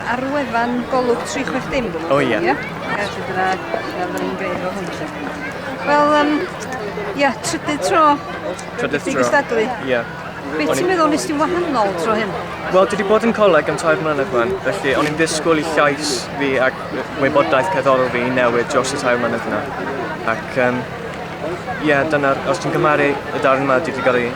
Ar wefan Golwg 360 dim dim. O ia. Ia. Felly dyna dyna fydden ni'n gwneud o hwn 'lly. Wel yym ia, trydydd tro. Trydydd tro. Gystadlu. Ia. Be ti'n meddwl nes ti'n wahanol tro hyn? Wel, dwi wedi bod yn coleg am tair mlynedd fan, felly o'n i'n ddisgwyl i llais fi ac wybodaeth cerddorol fi i newid dros y tair mlynedd yna. Ac um, ie, yeah, dyna, os ti'n cymharu y darn yma, dwi wedi cael ei,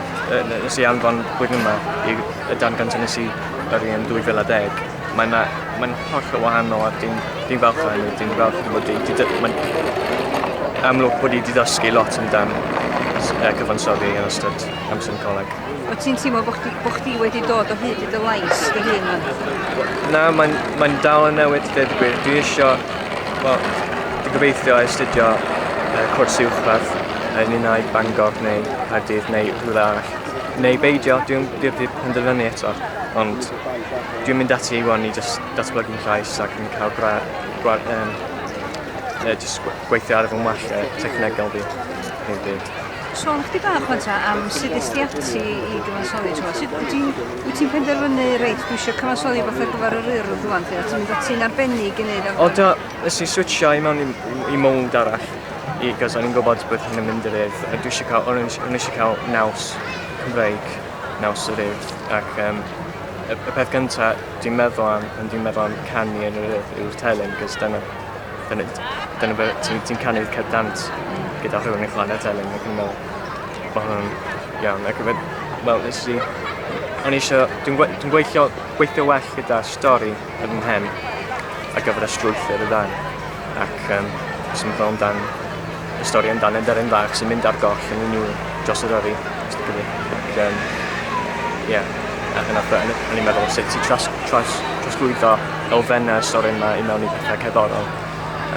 nes i anfon blwyddyn yma, i y darn gyntaf nes i yr un yn 2010 mae 'na mae'n hollol wahanol a dwi'n dwi'n falch o hynny dwi'n falch o bod 'di di- dy- ma'n amlwg bod 'i 'di ddysgu lot amdan s- yy cyfansoddi yn ystod amser yn coleg. Wyt ti'n teimlo bod chdi, bo chdi wedi dod o hyd i dy lais dy hun rwan? Na, mae'n mae dal yn newid i ddeud y gwir. Dwi isio, wel, dwi'n gobeithio astudio uh, cwrs uwchradd yn un ai Bangor neu Caerdydd neu rhywle arall. neu beidio, dwi ddim wedi penderfynu eto, ond dwi'n mynd ati i wan i jyst datblygu fy llais ac yn cael gwa... gwa um, uh, just gweithio ar fy well uh, technegol fi. Neu byd. Sôn chdi bach fan ta am sut ys ti ati i gyfansoddi tro. Sut wyt ti'n wyt ti'n penderfynu, reit, dwi eisiau cyfansoddi fath ar gyfer yr urdd rwan, lle ti'n mynd ati'n arbennig i wneud arbennig? O, do, ys i switchio i mewn i, i mownd arall. i cos o'n i'n gwybod bod hyn yn mynd i'r Urdd a dwi eisiau cael, o'n i eisiau cael naws Cymreig, naws yr Urdd ac um, y, y peth gyntaf dwi'n meddwl am pan dwi'n meddwl am canu yn yr Urdd yw'r telyn cos dyna, dyna, dyna fe, ti'n ti canu'r cyd dant gyda rhywun yn chwarae telyn ac yn meddwl bod hwnna'n iawn ac yn wel nes i o'n i eisiau dwi'n, gwe, dwi'n gweithio, gweithio well gyda stori ar fy mhen ar gyfer y strwythur y ddarn ac um, os yn meddwl amdan y stori amdan enderyn fach sy'n mynd ar goll yn unrhyw dros yr yrru. Ac, um, yeah. ac yna o'n i'n meddwl sut ti tras, tras, trasglwyddo elfennau y stori yma i mewn i pethau cerddorol.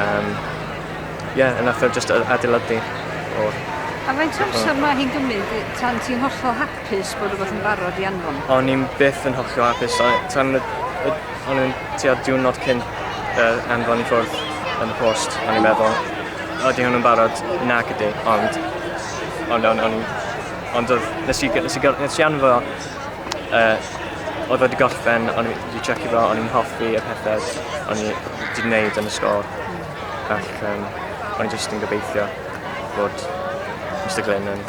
Um, yeah, yna ffyrdd just adeiladu o'r... A faint o amser mae hi'n gymryd tan ti'n hollol hapus? hapus bod rhywbeth yn barod i anfon. O'n i'n byth yn hollol hapus a tan y, y, o'n i'n tua diwrnod cyn yr anfon i ffwrdd yn y post, o'n i'n meddwl, oeddi hwn yn barod, nac ydi, ond, ond, ond, ond, ond oedd, nes i, nes i, nes i anfo, uh, oedd wedi gorffen, o'n i'n wedi checio fo, o'n i'n hoffi y pethau, o'n i'n wedi gwneud yn y sgol, ac um, o'n i'n just yn gobeithio bod Mr Glyn yn